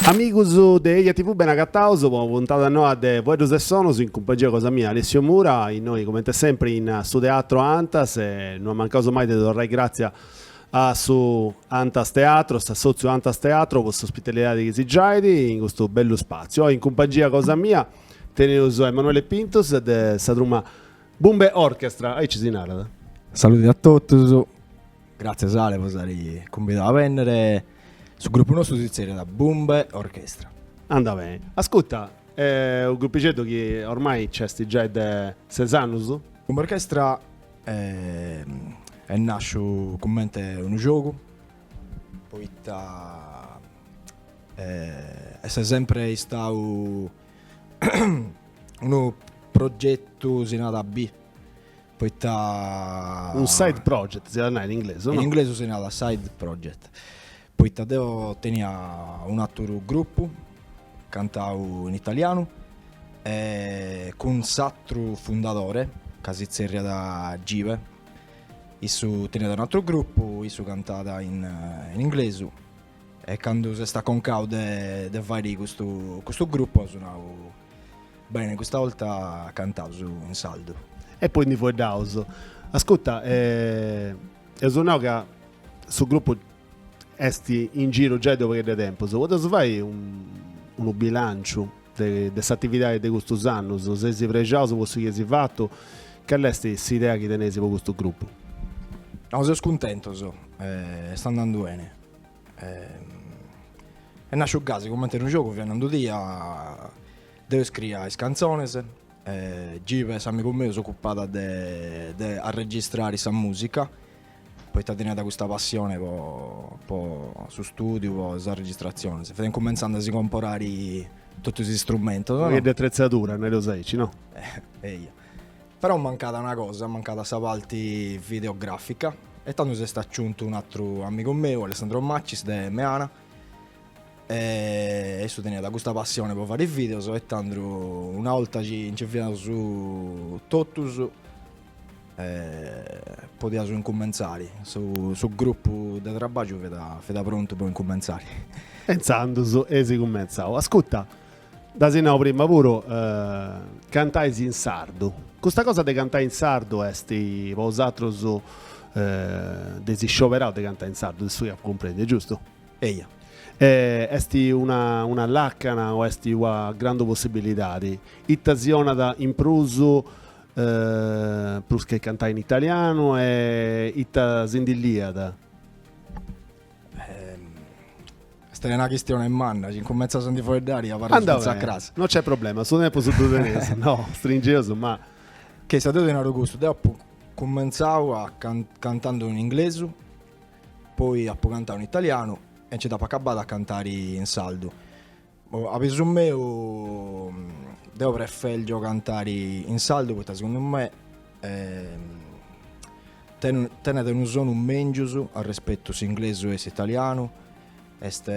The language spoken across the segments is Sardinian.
Amigus de Eja TV ben agataus po una puntada noa de Fueddus e Sonus in cumpagnia cosa mia Alessio Mura, innoi comente sempre in su Teatro Antas e non mancaus mai de torrai gratzia a su Antas Teatro, a s'assòtziu Antas Teatro po s'ospitalidadi chi si giait in custu bellu spàtziu. Oi in cumpangia cosa mia teneus Emanuele Pintus de sa truma Bumbe Orchestra, aici si narat. Saluti a totus, gràtzias Ale po s'ari cumbidau a bènnere, su grupu nostru si tzerriat Bumbe Orchestra. Andat beni. Ascuta, est unu grupixeddu chi ormai nc'est giai de ses annus? Bumbe Orchestra Est nàsciu cumente unu giogu, poita est sèmpere istau unu progetu, si narat B, poita. Unu side project si at a nai in inglesu, no? In inglesu si narat side project. Poita deo tenia un'àteru grupu, cantau in italianu, e cun s'àteru fundadore, ca si tzerriat Give, issu teniat un'àteru grupu, issu cantat in inglesu, e candu s'est aconcau de fàere custu grupu aus nau, bene, custa 'olta cantaus in sardu. E poi ndi fueddaus. Ascurta, eus nau ca su grupu Est in giru giai de u' pagheddu 'e tempus, podeus fai unu bilanciu de, de s'atividadi de custus annus? Seis prexaus po su chi eis fatu? Cali est s'idea chi teneis po custu grupu? No, seus cuntentus, est andandu beni. Est nasciu gasi cumenti unu giogu, fiat nai unu dia, deu iscriia is cantzonis, Give s'amigu meu s'ocupàt de arregistrari sa musica poita teniat custa passione po po su stùdiu, po sas registratziones, fiat cumentzandu a si comporare totus is istrumentos. Una paghedda 'e atretzadura, nareus aici, no? Eia. Però mancàt una cosa, mancàt sa parti videogràfica e tando s'est aciuntu un'atru amigu meu, Alessandro Macis, de Meana, e issu teniat custa passione po fare is videos e tando una 'olta nci fiaus totus podiaus incumentzari, su grupu de trabàgiu fiat prontu po incumentzari. E intzandus eis cumentzau. Ascuta, dda si nau prima puru, cantai in sardu, custa cosa de cantai in sardu est po usatrus, dd'eis scioberau de cantai in sardu, de su chi apu cumprendiu, est giustu? Eia. Est una una làcana o est una grandu possibilidadi? Ita si 'onat in prus prus che cantai in italianu e ita si ndi liat? Est una chistione manna, si incumentzas a ndi fueddari abarras fintzas a cras. No c'è problema, su tempus ddu teneus, no, stringeus ma. Cessu deu ti naru custu, deu apu cumentzau a cantando in inglesu, poi apu cantau in italianu e nci dd'apu acabada a cantari in sardu. A pisu meu deo prefergio cantare in sardu poita segundu me tenet unu sonu mengius a respetu s'inglesu e s'italianu est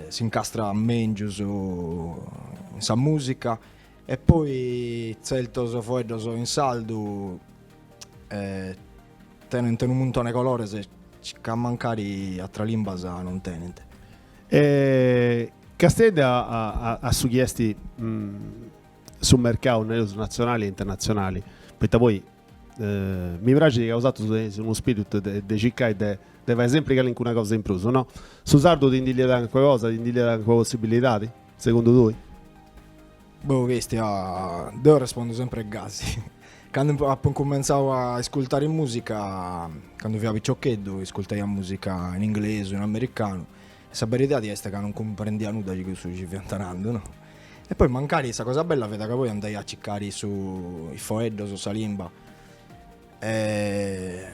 s'incastrat mengius in sa musica e poi zertos foeddos in sardu tenent unu muntone 'e colores ca mancari atras limbas non tenent E castiendi a, su chi est mm, su mercau, nareus, natzionali e internatzionali, poita poi eh, mi praxit chi ausatrus teneis unu spiritu de, de circai de, de fai sempri calincuna cosa in prus, no? Su sardu ti ndi liat calincuna cosa, ti ndi liat calincuna possibilidadi, segundu tui? Boh castia, deo arrespondo sempre gasi. Candu apo incumentzau a iscultare musica, candu fia piciocheddu, iscultaia musica in inglesu, in americanu, e sa beridadi est ca non cumprendia nudda de cussu chi ci fiant narando no. E poi mancari sa cosa bella fiat ca poi andaia a circari su is foeddos o sa limba e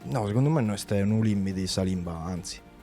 no segundu mei no est unu limidi sa limba, anzi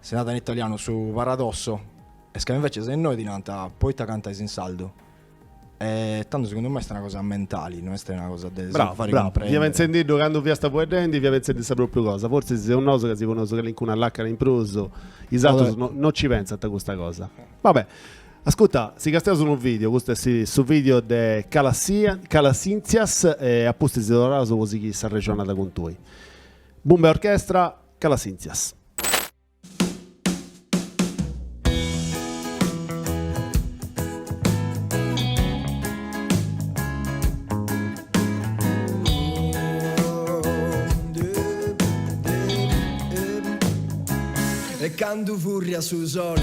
Si narat in italianu su paradosso est ca invece se innoi ti nant poita cantais in sardu e tando segundu mei est una cosa mentali, no est una cosa de si fai cumprendere. Fia pentzendiddu candu fiasta fueddendi fia pentzendi sa propriu cosa, forsis seus nosu ca si poneus calincuna lacana in prus is atrus no ci pentzant custa cosa. Va bè. Ascurta, si castiaus unu video, custu est su video de Calassia Calasintzias e a pustis torraus po sighiri s'arrexonada cun tui. Bumbe orchestra Calasintzias. E candu furriat su sole.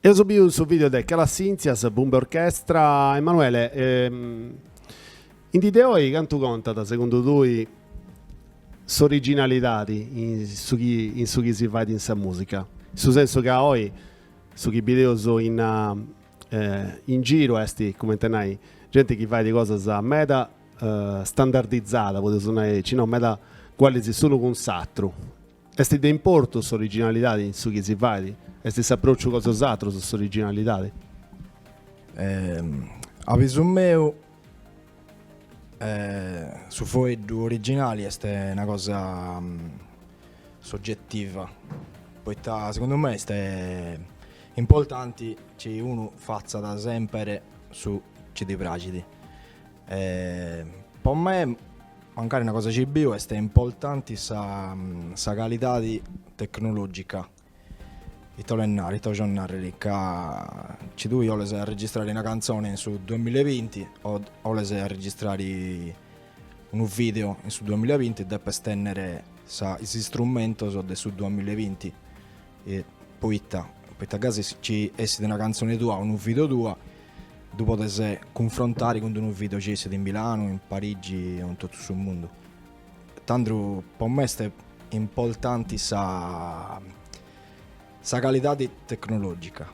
Emus biu su video de Calas Sintzias, Bumbe Orchestra. Emanuele, ehm, in dì de oi cantu contat, segundu tui, s'originalidadi in su chi, in su chi si fait in sa musica? In su sensu ca oi su chi bideus in. in giru est comenti nai genti chi fait cosas meda standardizada podeus nai aici no meda cualis s'unu cun s'atru est de importu s'originalidadi in su chi si fait est s'aprociu cun is atrus s'originalidadi? a bisu meu su foeddu originali est una cosa mm, sogetiva, poita segundu mei est importanti chi unu fatzat semper su chi ddi praxit. Po me, mancari una cosa chi biu, est importanti sa sa calidadi tecnologica, Ita 'olet narrer, ita 'ojo narrer ca ci tui 'oles arregistrare una canzone in su 2020 o 'oles arregistrare unu video in su 2020 depes tenner sa is istrumentos de su 2020 e poita poita gasi ci essit una canzone tua o unu video tua ddu podes cunfrontare cun d'unu video ci essit in Milano, in Parigi o in totu su mundu. Tandu po me est importanti sa sa calidadi tecnologica.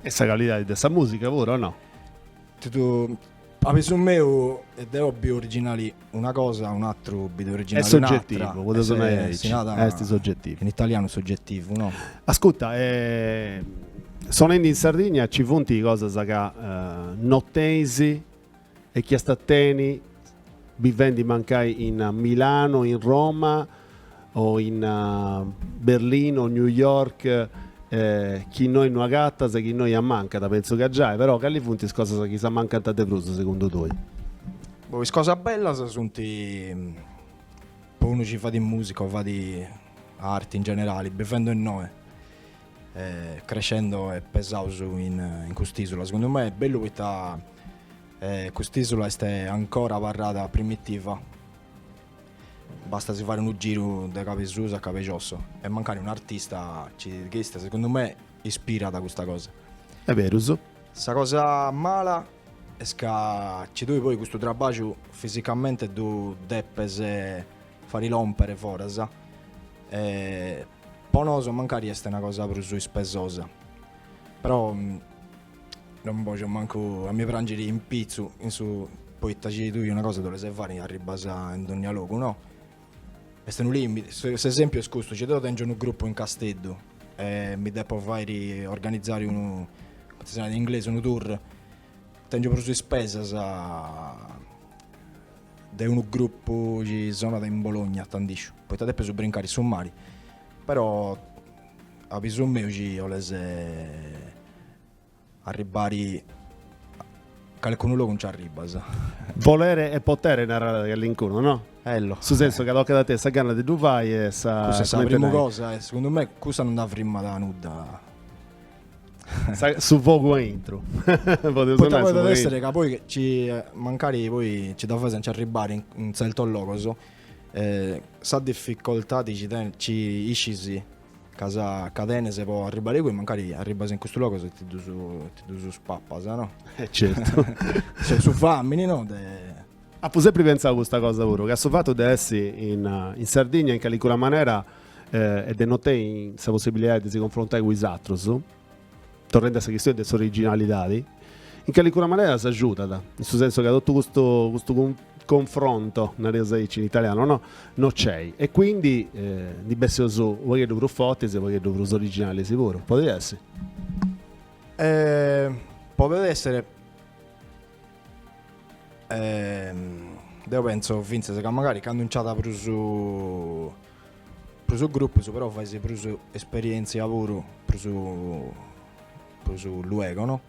E sa calidadi de sa musica puru o no? Totu a bisu meu ca deo biu originali una cosa e un'atru bit originali un'atra. Est sogetivu, podeus nai aici, est sogetivu. In italianu sogetivu, no? Ascurta, sonendi in Sardigna ci funt cosas ca no tenis e chi iast a tenni bivendi mancai in Milano, in Roma o in Berlino, New York, chi innoi no agatas e chi innoi ammancant, pentzu ca giai, però cali funt is cosas chi si ammancant de prus segundu tui? Boh, is cosas bellas sunt po unu chi fadit musica o fadit arti in generali, bivendi innoi, creschendi e pesaus in cust'isula, segundu mei est bellu poita cust'isula est ancora abarrada primitiva, bastat a si fare unu giru de cabesusu a cabejosso e mancari un artista ci ch'est, segundu mei ispirat custa cosa. Est beru. Sa cosa mala est ca ci tui poi custu trabaju fisicamente ddu depes fari lòmpere foras e po nosu mancari est una cosa prus ispesosa però non bojo mancu a mi prangiri in pitzus poita chi tui una cosa dd'oles fari arribbas in dogna logu no est unu limiti s'esempiu est custu ci deu tengio unu gruppu in Casteddu e mi depo fairi organizari unu cumenti si narat in inglesu unu tour tengio prus ispesas de unu grupu chi sonat in Bologna tandisciu, poita depis brincari su mari, però a bisu meu chi 'oles arribbari calicunu logu nci arribbas. Volere è potere narat calincunu no? Bellu. Su sensu ca tocat a tenni sa gana de ddu fai e sa. Cussa est sa primu cosa e segundu mei cussa non dda frimmat nudda. su fogu a intro podet essere ca poi ci eh, mancari poi ci dda faes a nci arribbare in, in certos logos eh, sa difficoltade ci, ten, ci iscis ca, sa, ca tenes po arribbare chi mancari arribbas in custus logos e ti ddus, ti ddus papas no? Eh, certo su famini no? Deu apu sempre pensau custa cosa puru, ca su fattu de essi in, in Sardigna in calicuna manera e de no tenni sa possibilidadi de si confrontai cun is atrus, torrendi a sa chistioni de s'originalidadi, in calicuna manera s'agiudat, in su sensu ca totu custu custu confronto, nareus aici in italianu, no no nc'est e quindi ndi bessius u' pagheddu prus fortis e u' pagheddu prus originalis puru, podit essi? podet esser deu pentzu fintzas ca magari candu nc'at prus Prus grupos però fais prus esperientzia puru prus prus luego no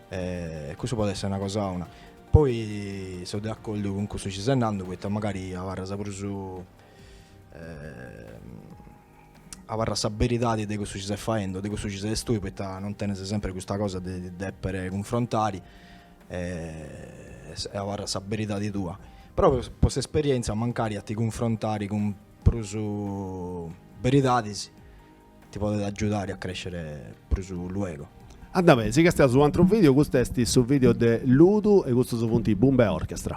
e cussu podet essere una cosa 'ona poi so de accordu cun cussu chi ses nando poita magari abarras prus abarrat sa beridadi de cussu chi ses faendo de cussu chi ses tue poita non tenes sempre custa cosa de ti deppere cunfrontare E abarrat sa beridadi tua. Però po s'esperienza mancari a ti cunfrontari cun prus beridadis ti podet agiudari a crescere prus luego. Andat beni, si castiaus un'antru video, custu est su video de Ludu e custus funti Bumbe Orchestra.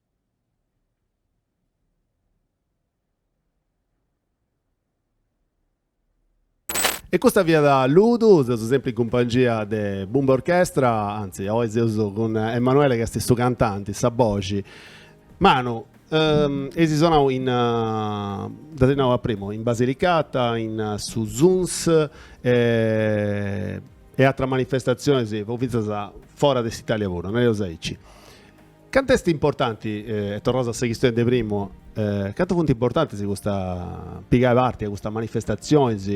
E custa fiat Ludu, seus sempri in cumpangia de Bumbe Orchestra, anzi, oi seus cun Emanuele chi est su cantanti, sa boxi. Manu, eis sonau in, dd'as nau a primu, in Basilicata, in su Suns e e atras manifestatzionis, po fintzas fora de s'Italia puru, nareus aici. Cantu est importanti, e torraus a sa chistioni de primu, cantu funt importantis custa pigai parti a custas manifestatzionis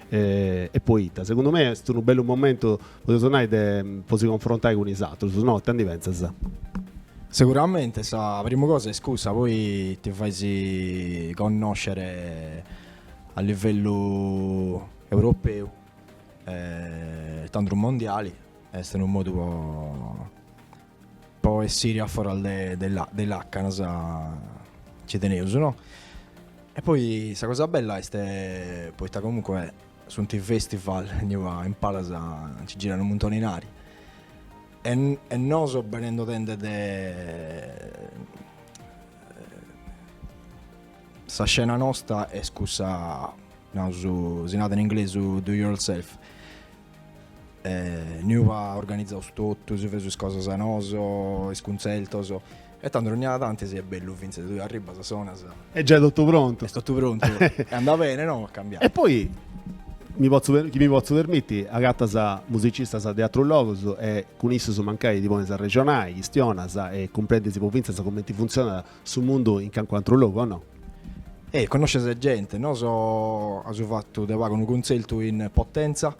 e poita? Segundu mei est unu bellu momentu, podeus nai, de po si confrontai cun is atrus, no? Ita ndi pentzas? Seguramente, sa primu cosa est cussa, poi ti fais connoscere a livellu europeu e tandus mondiali, est unu modu po Po essiri a foras de, de, la, de lacanas ci teneus, no? E poi sa cosa bella est poita comunque sunt festival inua in palas nci girat unu muntoni 'e inari e, e noso benendo tende de sa scena nosta est cussa naus si narat in inglesu do yourself eh, inuba organizaus totu, si feus is cosas noso, is cuntzertos, e tando onnia tanti si est bellu fintzes, tui arribas, sonas, est giai totu prontu. est totu prontu, e andat bene, no? A cambiai. E poi, mi potzu per- chi mi potzu permitti, agatas musicistas de atrus logus e cun issus mancai ti ponis a arrexonai chistionas e cumprendis po fintzas cumenti funtzionat Su mundu in cancu atru logu o no? E connosces gente, noso aus fatu de pagu unu cuntzertu in Potenza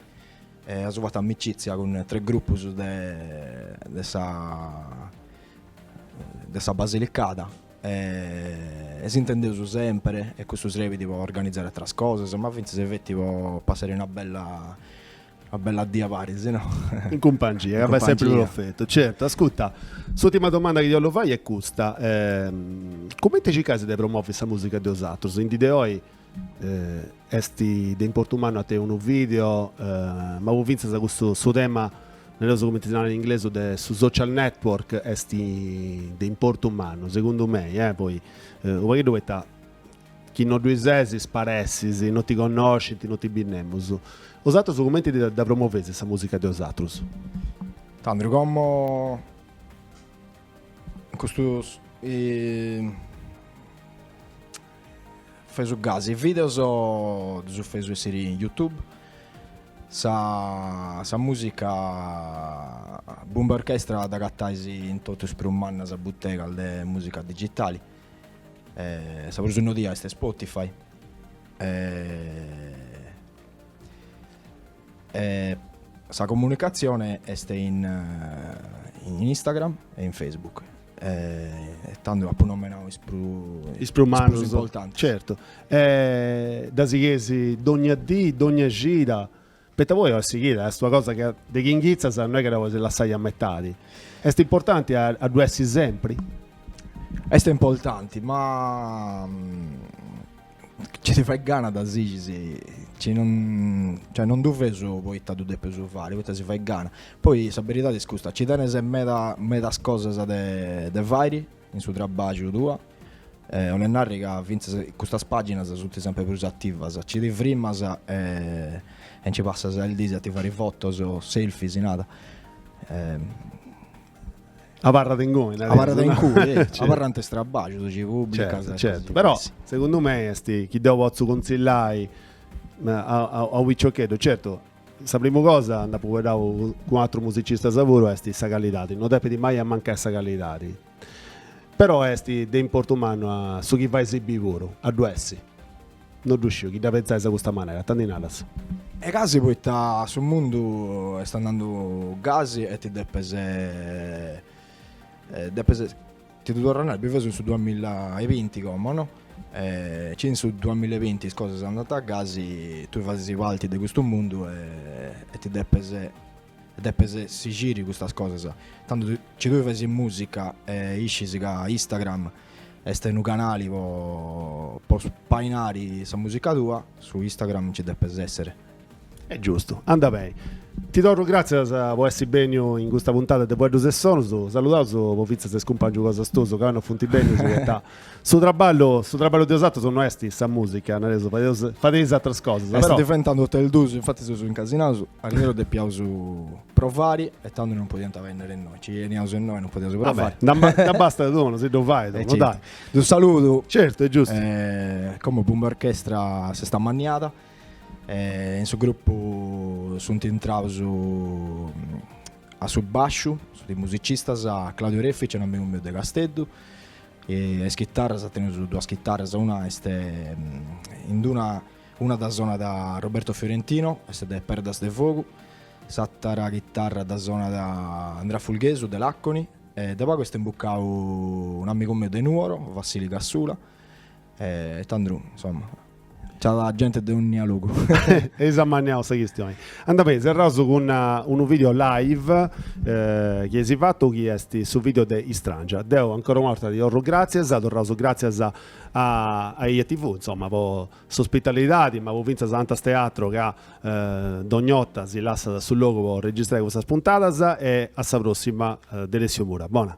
e aus fatu amicitzia cun tres grupus de de sa de sa Basilicada e s'intendeus semper e custu serbit po organizare atras cosas ma fintzas feti po passare una bella Una bella dì a paris, no? In cumpangia, ca fait semper profetu. Certu, ascurta, s'urtima domanda chi 'ollu fai est custa. Eh, cumenti circais de promovi sa musica de osatrus? In dì de oi eh, est de importu mannu a tenni unu video, eh, ma po fintzas custu su tema nareus cumenti si nat in inglesu de su social network est de importu mannu, segundu mei, eh, poi eh, unu pagheddu poita Chi no ddui ses, sparessis, no ti connoscint, no ti bit nemus. Osatrus cumenti dda promoveis sa musica de osatrus? Tando como custu feus gasi is videos ddus feus essiri in youtube, sa sa musica Bumba Orchestra dd'agatais in totus is prus mannas butegas de musica digitali. E sa prus innodia est Spotify. E, e sa comunicatzione est in, in Instagram e in Facebook. E tando apu nomenau is prus, is prus mannus, is prus importantis. Certu. E dda sigheis dogna dì, dogna cida. Poita poi a sighida est una cosa chi de chi inghitzas no est chi dda podis lassai a metadi. Est importanti a a ddu essi sempri? Est importanti, ma ci ti fait gana dda sighis, ci non, cioè non ddu feus poita ddu depeus fari, poita si fait gana. Poi sa beridadi est custa, ci tenes meda medas cosas de de fairi in su trabàgiu tua, e 'olet narri ca fintzas custas pàginas sunt semper prus ativas, ci ti frimas e nci passas is dis a ti fai fotos, selfie si narat, abarrat inguni nareus, abarrat inguni, abarrant is trabàgius ci pùbricas, certu certu, però segundu mei est chi deu potzu contzillai a unu piciocheddu, certu Sa primu cosa, nd'apu fueddau cun atrus musicistas puru, est sa callidadi, no depit mai a mancai sa callidadi, però est de importu mannu a su chi fais biri puru, a ddu essi, no ddu sciu chi dda pentzais a custa manera, ita ndi naras. Est gasi poita su mundu est andandu gasi e ti depes depes Ti ddu torru a narri, biveus in su duamilla e binti como no? E ci in su duamilla e binti is cosas andant a gasi, tui fais parti de custu mundu e e ti depes e depes sigiri custas cosas. Tandu ci tui fais musica e iscis ca Instagram est unu canali po po spainari sa musica tua, su Instagram ci depes esser Est giustu, anda beni. Ti torru gràtzias po essi bènniu in custa puntada de Fueddus e Sonus. Saludaus po fintzas is cumpàngius cosas tuus ca no funt bènnius poita su traballu, su traballu de osatrus no est sa mùsica, nareus, fadeus, fadeis ateras cosas. Est diventada totu e duus, infatis seus incasinaus, arrieru depiaus provari e tando non podiant benniri innoi, ci beniaus innoi e non podiaus provari. Vabbè, ndi bastat unu, si ddu fait unu, dai. Ddus saludu. Certu, est giustu. Como Bumbe Orchestra s'est ammanniada. In su grupu sunt intrados a su bàsciu is musicistas Claudio Reffici, unu amigu meu de Casteddu, e a is chitarras teneus duas chitarras, una est in una, una dda sonat Roberto Fiorentino, est de Perdas de Fogu, s'àtera chitarra dda sonat Andrea Fulghesu de Làconi e de pagu est imbucau unu amigu meu de Nuoro, Vassili Casula e tandru, insoma C'at gente de ònnia logu. Eis ammanniau sa chistioni. Anda beni, serraus cun uh, unu video live eh, chi eis fatu chi est su video de Istrangia. Deu ancora una borta ti torru grazias, torraus grazias a, a, a EjaTV, insomma, po s'ospitalidadi, ma po finzas a Antas Teatro ca eh, dogn'ota si lassat su logu po registrai custas puntadas e a sa prossima eh, de Alessio Mura. Bona.